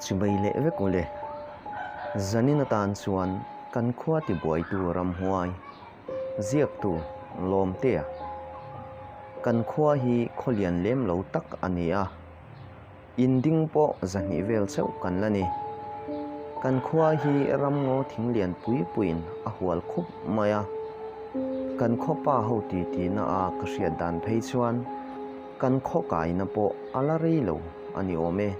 Chubei leh vek u le. Zanin atan chuan kan khua tibuaitu ramhuai ziaktu Lawmtea, Kan khua hi khaw lian lem lo tak a ni a, in ding pawh zahnih vel chauh kan la ni. Kan khua hi ramngaw thing lian pui puiin a hual khup mai a. Kan khawpa ho titihna a ka hriat dan phei chuan. Kan khawkaina pawh a la rei lo a ni awm e.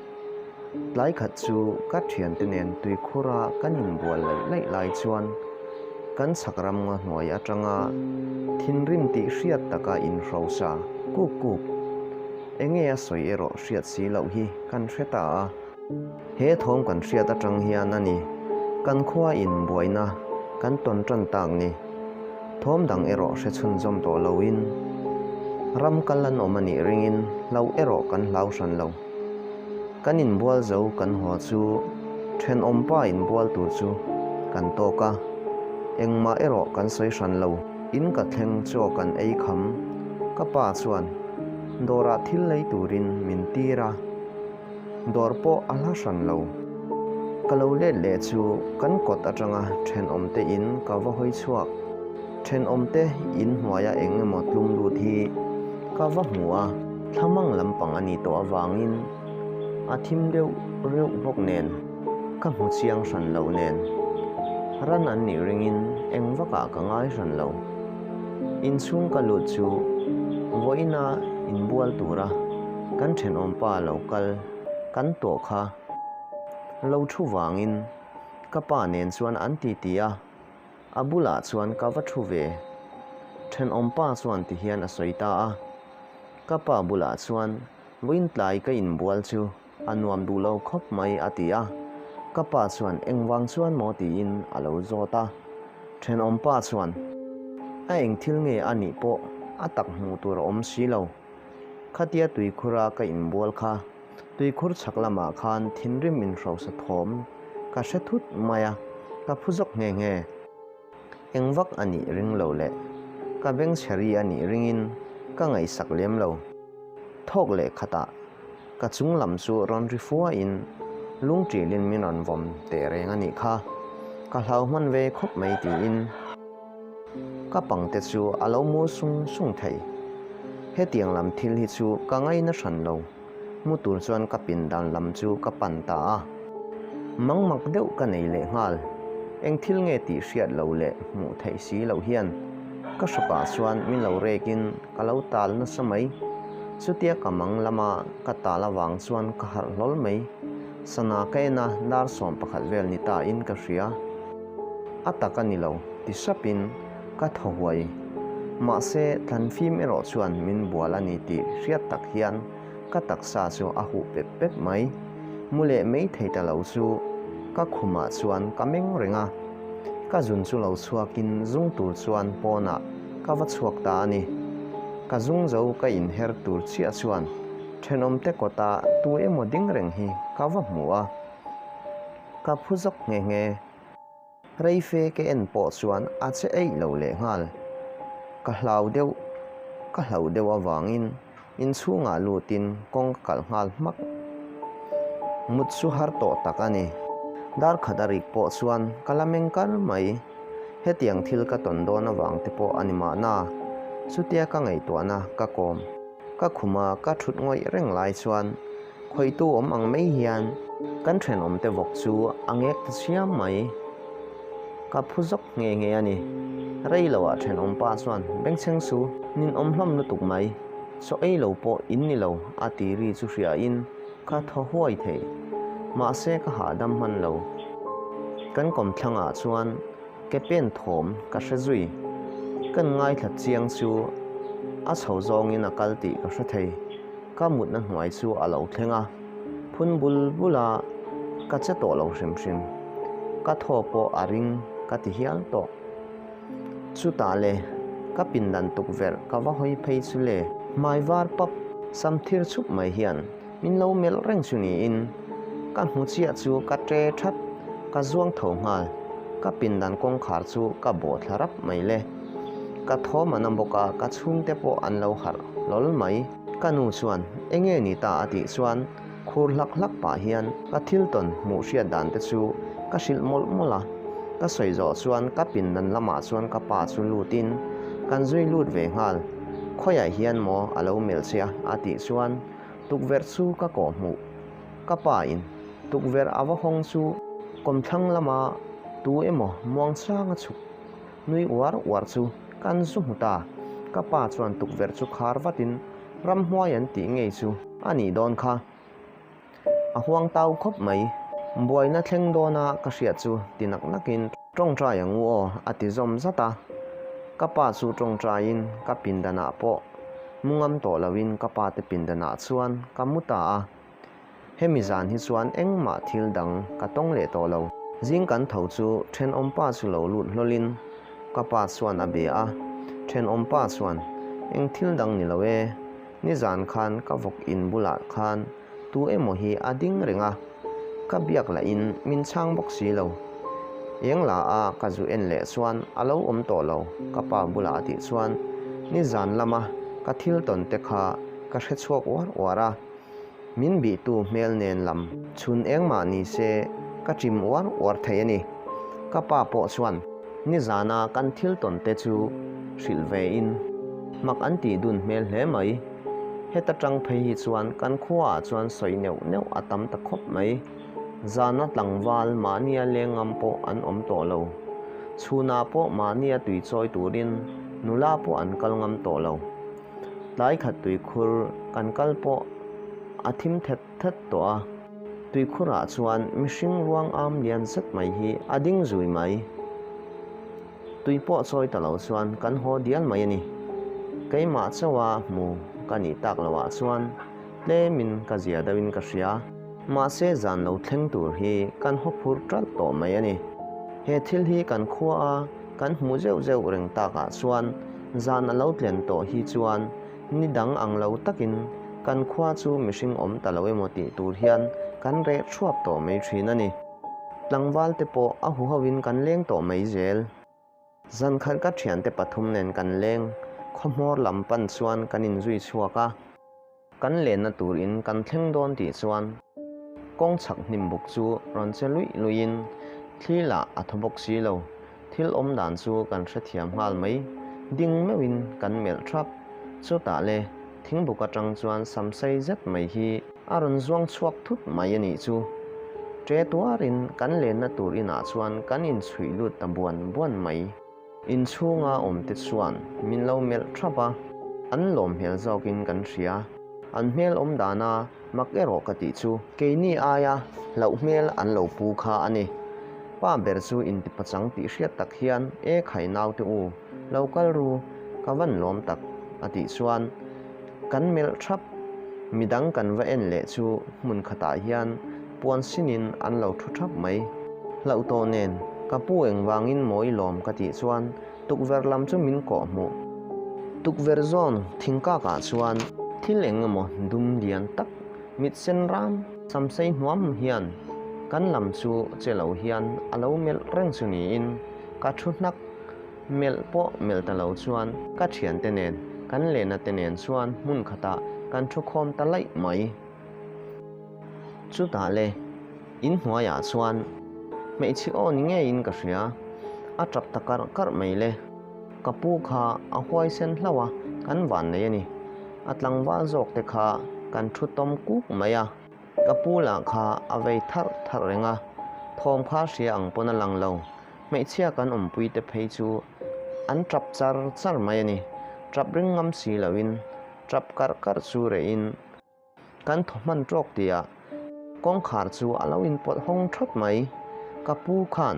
Tlai khat chu ka thiante nen tuikhura kan inbual laih laih lai chuan kan chhak ramnga hnuai atanga thinrim tih hriat taka inhrosa kuk kuk. Enge a sawi erawh hriat si loh hi kan hre ta a. He thawm kan hriat atang hian a ni, kan khua in buaina kan tawn tan tak ni. Thawm dang erawh hre chhunzawm tawh loin ram kal an awm a nih ringin hlau erawh kan hlau hran lo. Kan inbual zo kan haw chu thenawm pa inbual tur chu kan tawk a, engmah erawh kan sawi hran lo. In ka thleng chaw kan ei kham, ka pa chuan dawrah thil lei turin min tir a, Dawr pawh a hla hran lo. Ka lo let leh chu kan kawt atanga thenawmte in ka va hawi chhuak. Thenawmte in hnuaia eng emaw tlum lut hi ka va hmu a, thlamang lampang a ni tawh avangin a thim reuh reuh bawk nen ka hmu chiang hran loh nen. Ran an nih ringin engvakah ka ngai hran lo. Inchhung ka luh chu vawiina inbual tura kan thenawm pa lo kal kan tawh kha lo thu vangin ka pa nen chuan an titi a, a bulah chuan ka va thu ve. Thenawm pa chuan ti hian a sawi ta a, ka pa bulah chuan vawiin tlai ka inbual chu. A nuam duh lo khawp mai, a ti a. Ka pa chuan, Engvang chuan maw? tiin a lo zawt a. Thenawm pa chuan, A eng thil nge a nih pawh a tak hmuh tur a awm si lo. Khatia tuikhura ka inbual kha, tuikhur chhak lamah khan thinrim in hrosa thawm ka hre thut mai a, ka phu zawk nghe nghe. Eng vak a nih ring lo leh ka beng chheri a nih ringin ka ngaihsak lem lo. Thawk leh khatah ka chung lam chu rawn ri fuain lung ṭilin min rawn vawm teh reng a nih kha. Ka hlau hman ve khawp mai tiin ka pangte chu a lo mul sung sung thei. Hetiang lam thil hi chu ka ngaina hran lo. Hmu tur chuan ka pindan lam chu ka pan ta a. Mang mak deuh ka nei leh nghal. Eng thil nge tih hriat lo leh hmuh theih si lo hian ka hra pah chuan min lo rek in ka lo tal nasa mai. Chutia ka mang lama ka tal avang chuan ka harh hlawl mai. Sana kain a dar sawm pakhat vel ni ta in ka hria. A tak a ni lo ti hrap in. Ka tho huai. Mahse, tlanfim erawh chuan min bual a ni tih hriat tak hian ka taksa chu a huh pep pep mai. Mu leh mei thei ta lo chu ka khumah chuan ka meng reng a. Ka zun chu lo chhuakin zung tur chuan pawnah ka va chhuak ta a ni. Ka zung zo ka inher tur chiah chuan thenawmte kawta tu emaw ding reng hi ka va hmu a. Ka phu zawk nghe nghe. Reife ka en pawh chuan a che eih lo leh nghal. Ka hlau deuh ka hlau deuh avangin inchhungah lutin kawng ka kalh nghal hmak. Mut chu har tawh tak a ni. Dar khat a rik pawh chuan ka la meng kar mai. Hetiang thil ka tawn dawn avangte pawh a ni mahna, chutia ka ngaihtuahna ka kawm. Ka khuma ka thut ngawih reng lai chuan. Khawitu awm ang mai hian kan thenawmte vawk chu a ngek ta siam mai. Ka phu zawk nghe nghe a ni. Rei lo ah thenawm pa chuan Bengchheng chu nin awm hlawm lutuk mai. Saw ei lo pawh in ni lo a ti ri chu hria in ka thaw huai thei. Mahse ka hahdam hman lo. Kan kawmthlangah chuan. Ka pen thawm ka hre zui. Kan ngaithla chiang chu a chho zawngin a kal tih ka hre thei. Ka mutna hnuai chu a lo thleng a, phun bul bul a, ka che tawh lo hrim hrim. Ka thaw pawh a ring ka ti hial tawh. Chutah le, ka pindan tukverh ka va hawi phei chu le. Hmai var pap, sam thir chhup mai hian. Min lo melh reng chu niin ka hmu chiah chu ka ṭe ṭhat, ka zuang tho nghal. Ka pindan kawngkhar chu ka baw thla rap mai le. Ka thawm a na bawk a, ka chhungte pawh an lo harh hlawl mai. Ka nu chuan, Enge ni ta? a tih chuan khur hlak hlak pah hian ka thil tawn hmuh hriat dan te chu ka hrilh mawlh mawlh a. Ka sawi zawh chuan ka pindan lamah chuan ka pa chu lut in, Kan zui lut ve nghal, khawiah hian maw a lo melh che a? a tih chuan tukverh chu ka kawh hmuh. Ka pa in tukverh a va hawng chu kawmthlang lama tu emaw Muangchanga chhuk nui uar uar chu kan zu hmu ta. Ka pa chuan tukverh chu khar vatin ramhuai an tih ngei chu a nih dawn kha. A huangtau khawp mai. Buaina thleng dawna ka hriat chu ti nak nak in. Tawngtai ang u aw, a ti zawm zat a. Ka pa chu tawngtaiin ka pindanah pawh mu ngam tawh loin ka pa te pindanah chuan ka mu ta a. Hemi zan hi chuan engmah thil dang ka tawng leh tawh lo. Zing kan tho chu thenawm pa chu lo lut hlawlin ka pa chuan a be a. Thenawm pa chuan, Eng thil dang ni lo e, nizan khan ka vawk in bulah khan Tu emaw hi a ding reng a, ka biak lah in min chhang bawk si lo. Eng la a ka zu en leh chuan a lo awm tawh lo ka pa bulah a tih chuan ni zan lama ka thil tawn te kha ka hre chhuak uar uar a, min bih tu hmel nen lam. Chhun engmah ni se ka chim uar uar thei a ni. Ka pa pawh chuan ni zana kan thil tawn te chu hrilh ve in mak an ti dun hmel hle mai. Heta tangphei hi chuan kan khua ah chuan sawi neuh neuh a tam ta khawp mai. Zana tlangval mahnia leng ngam pawh an awm tawh lo. Chhunah pawh mahnia tui chawi turin nula pawh an kal ngam tawh lo. Tlai khat tui khur kan kal pawh a thim thet thet tawh a. Tui khurah chuan mihring ruang âwm lian zet mai hi a ding zui mai. Tui pawh chawi ta lo chuan kan haw dial mai a ni. Keimah chauha hmu ka nih tak lo ah chuan tlem in ka zia deuh in ka hria. Mahse zan lo thleng tur hi kan haw phur ṭalh tawh mai a ni. He thil hi kan khua a kan hmu zeuh zeuh reng tak ah chuan zan a lo tlen tawh hi chuan ni dang ang lo tak in kan khua chu mihring awm ta lo emaw tih tur hian kan reh ṭhuap tawh mai ṭhin a ni. Tlangval te pawh a huho in kan leng tawh mai zel. Zan khat ka thian te pathum nen kan leng. Khawmawr lam pan chuan kan in zui chhuak a. Kan lenna tur in kan thleng dawn tih chuan kawng chhak hnim buk chu rawn che luih luih in thli lah a thaw bawk si lo. thil awm dan chu kan hrethiam nghal mai, ding meuhin kan melh ṭhap. Chutah le thingbuk aṭang chuan sam sei zet mai hi a rawn zuang chhuak thut mai a nih chu. Ṭe tuarin kan lenna tur inah chuan kan inchhuih lut ta buan buan mai. Inchhunga awmte chuan min lo melh ṭhap a, an lawmhmel zawkin kan hria. An hmel awm dana Mak erawh ka tih chu. Keini aia hlauh hmel an lo pu kha a ni. Pa ber chu intipachang tih hriat tak hian, E khai naute u, lo kal ru, ka van lawm tak, a tih chuan kan melh thap. Midang kan va en leh chu hmun khatah hian puan sinin an lo thu thap mai. Hlauh tawh nen, ka pu engvangin mawi lawm ka tih chuan Tukverh lam chu min kawh hmu. Tukverh zawn thing kak ah chuan. Thil eng emaw dum lian tak mit sen ram. Sam sei hnuam hian kan lam chu che lo hian a lo melh reng chu niin ka thu hnak melh pawh melh ta lo chuan ka thian te nen kan lehna te nen chuan hmun khatah kan thu khawm ta laih mai chutah le. In hnuaiah chuan hmeichhe aw ni ngeiin ka hria. A tap ta karh karh mai le. Ka pu kha a huaisen hlo a, kan vannei a ni. A tlangval zawk te kha kan thu tawm kuk mai a. Ka pu lah kha a vei tharh tharh reng a, thawm kha hria ang pawn a lang lo. Hmeichhia kan awmpui te phei chu an tap char char mai a ni. Tap ringawm si loin tap karh karh chu reihin. Kan thaw hman tawk tia kawngkhar chu a lo inpawlh hawng thawt mai. Ka pu khan,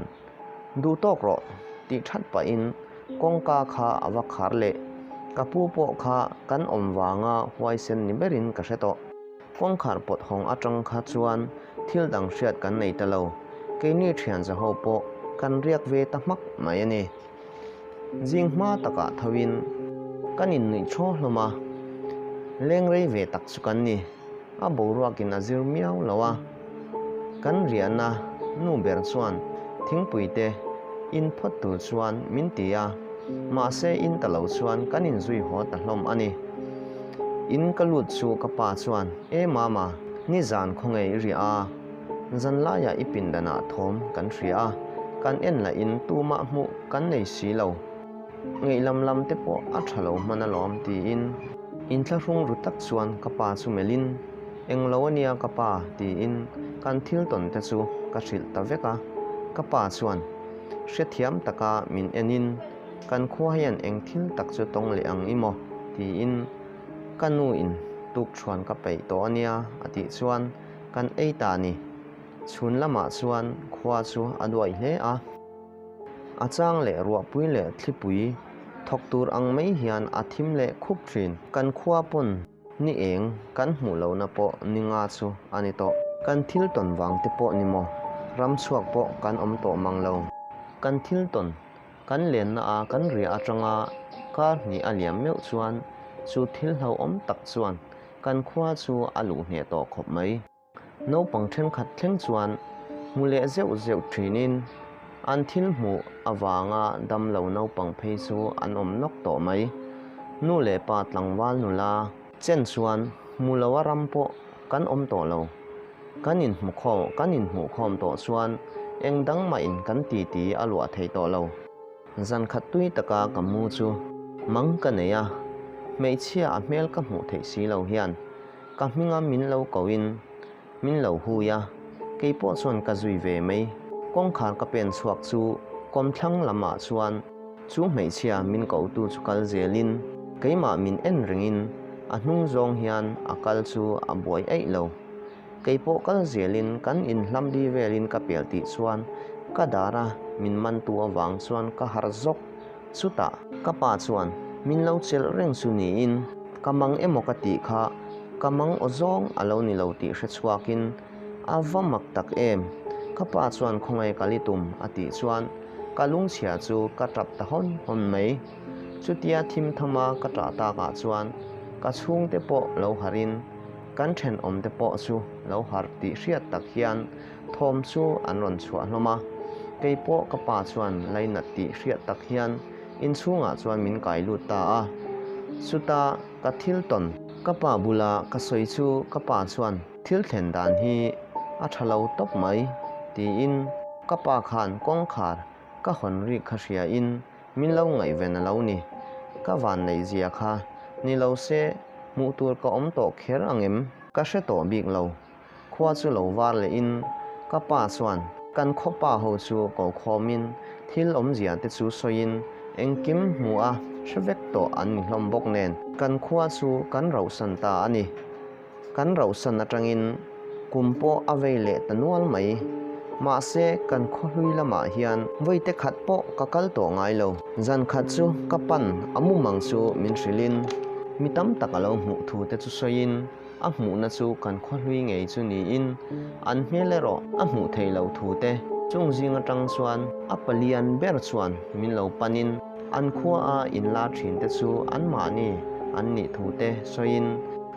Duh tawk rawh, tih that pahin kawngka kha a va khar leh. Ka pu pawh kha kan awm vanga huaisen ni berin ka hre tawh. Kawngkhar pawt hawng atang kha chuan thil dang hriat kan nei ta lo. Keini thianzaho pawh kan riak ve ta hmak mai a ni. Zing hma takah thoin kan innuih thaw hlawm a, leng rei ve tak chu kan ni. A boruakin a zir miau lo a. Kan riahna nu ber chuan thingpuite in phawt tur chuan min ti a, mahse in ta lo chuan kan inzui haw ta hlawm a ni. In ka lut chu ka pa chuan, E Mama, nizan khawnge i riah a? Zan laia i pin danah thawm kan hria a, kan en lah in tumah hmuh kan nei si lo. Ngeilam lam te pawh a tha lo hman alawm, tiin. In thlahrung ru tak chuan ka pa chu melh in, Eng lo a nia ka pa, tiin kan thil tawn te chu ka hrilh ta vek a. Ka pa chuan hrethiam taka min en in, Kan khua hian eng thil tak chu tawng leh ang i maw? tiin ka nu in tuk thluan ka peih tawh a nia a tih chuan, Kan ei ta ni. Chhun lamah chuan khua chu a duai hle a. A chang leh ruahpui leh thlipui thawk tur ang mai hian a thim leh khup thin. Kan khua pawn ni eng kan hmuh lohna pawh ni nga chu a ni tawh. Kan thil tawn vang te pawh ni maw? Ram chhuak pawh kan awm tawh mang lo. Kan thil tawn Kan lenna a kan riah atanga kar hnih a liam meuh chuan chu thil hlauhawm tak chuan kan khua chu a luh hneh tawh khawp mai. Naupang thenkhat thleng chuan hmu leh zeuh zeuh thinin an thil hmuh avanga damlo naupang phei chu an awm nawk tawh mai. Nu leh pa tlangval nula Chen chuan, Hmu lo a ram pawh kan awm tawh lo. Kan inhmu khawm, kan inhmuh khawm tawh chuan eng dang mahin kan titi a luah thei tawh lo. Zan khat tui taka ka mu chu mang ka nei a, hmeichhia a hmel ka hmuh theih si lo hian ka hminga min lo ko in Min lo hui a, kei pawh chuan ka zui ve mai. Kawngkhar ka pen chhuak chu kawmthlang lamah chuan chu hmeichhia min kotu chu kal zelin keimah min en ringin a hnung zawng hian a kal chu a buai eih lo. Kei pawh kal zelin kan in hlam di velin ka pel tih chuan ka dar a, min mantu avang chuan ka har zawk. Chutah ka pa chuan min lo chelh reng chu niin ka mang emaw ka tih kha ka mang aw zawng a lo ni lo tih hre chhuakin a va mak tak em. Ka pa chuan khawngaih kalh i tum a tih chuan ka lungchhia chu ka tap ta hawn hawn mai. Chutia thim tham a ka tah tak ah chuan ka chhungte pawh lo harhin kan thenawmte pawh chu lo har tih hriat tak hian, thawm chu an rawn chhuah hlawm a, kei pawh ka pa chuan lainat tih hriat tak hian inchhungah chuan min kai lut ta a, chuta ka thil tawn. Ka pa bula ka sawi chu ka pa chuan thil thlen dan hi a tha lo tawp mai tiin ka pa khan kawngkhar ka hawn rik kha hria in min lo ngaihven a lo ni, ka vanneih zia kha ni lo se hmuh tur ka awm tawh kher ang em? Ka hre tawh bik lo. Khua chu lo var leh in ka pa chuan kan khaw pa ho chu ko khawm in thil awmzia te chu sawi in engkim hmu a hre vek tawh an ni hlawm bawk nen kan khua chu kan rauhsan ta a ni. Kan rauhsan atang in kum pawh a vei leh ta nual mai. Mahse kan khawhlui lamah hian vawiite khat pawh ka kal tawh ngai lo. Zan khat chu ka pan a mum ang chu min hrilh in mi tam tak a lo hmuh thu te chu sawi in, A hmuhna chu kan khawhlui ngei chu niin an hmel erawh a hmuh theih loh thu te chung zing atang chuan a palian ber chuan min lo panin an khua a in la thin te chu an mahni an nih thu te sawiin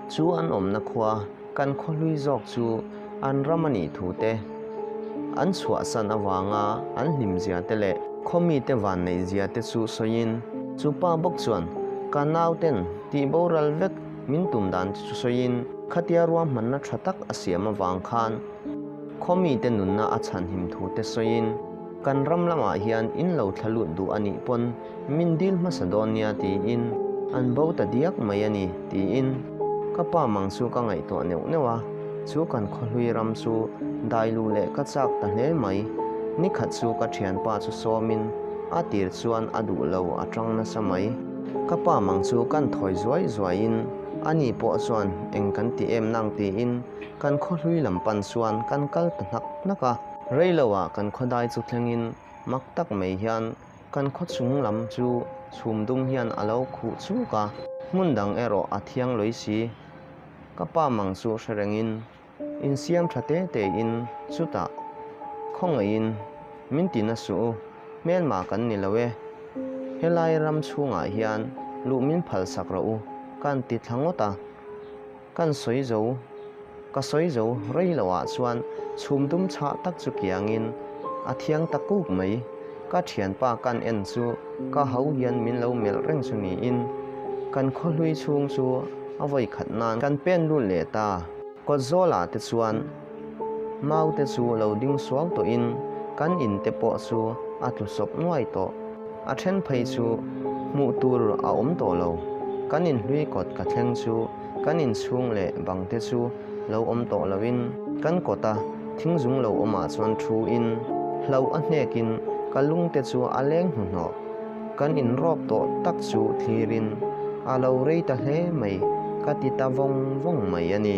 chu an awmna khua kan khawhlui zawk chu an ram a nih thu te an chhuahsan avanga an hlim zia te leh khaw mi te vanneih zia te chu sawiin chu pa bawk chuan ka nau ten tih boral vek Min tum dan te chu sawiin khatia ruahmanna tha tak a siam avang khan khaw mite nunna a chhan him thu te sawiin kan ram lamah hian in lo thla lut duh a nih pawn min dil hmasa dawn nia tiin an bo ta diak mai a ni, tiin ka pa mang chu ka ngaihtuah neuh neuh a, chu kan khawhlui ram chu dai luh leh ka chak ta hle mai, nikhat chu ka thianpa chu sawmin a tir chuan a duh lo a tang nasa mai. Ka pa mang chu kan thawi zuai zuai in a ni pawh chuan eng kan ti em nang tiin kan khawhlui lam pan chuan kan kal ta hnak hnak a. Rei lo ah kan khawdai chu thleng in mak tak mai hian kan khaw chung lam chu chhum dum hian a lo khuh chuk a. Hmun dang erawh a thiang lawi si. Ka pa mang chu hre reng in. Insiam tha te tein chutah khawngaihin min ti na suh u, hmelma kan ni lo e, helai ram chhungah hian luh min phalsak rawh u kan ti thla ngawt a, kan sawi zo, ka sawi zo rei lo ah chuan chhum dum chhah tak chu kiangin a thiang ta kuk mai, ka thianpa kan en chu ka ho hian min lo melh reng chu niin kan khawhlui chhung chu a vawi khat nan kan pen lut leh ta. Kawtzawlah te chuan mau te chu lo ding suau tawhin kan in te pawh chu a tlu sawp nuai tawh. A then phei chu hmuh tur a awm tawh lo. Kan in hlui kawt ka thleng chu kan in chhung leh bang te chu lo awm tawh loin kan kawt a, thing zung lo awmah chuan thu in hlauh a hnekin ka lung te chu a leng hnuhnawh. Kan in rawp tawh tak chu thlir in a lo rei ta hle mai ka ti ta vawng vawng mai a ni.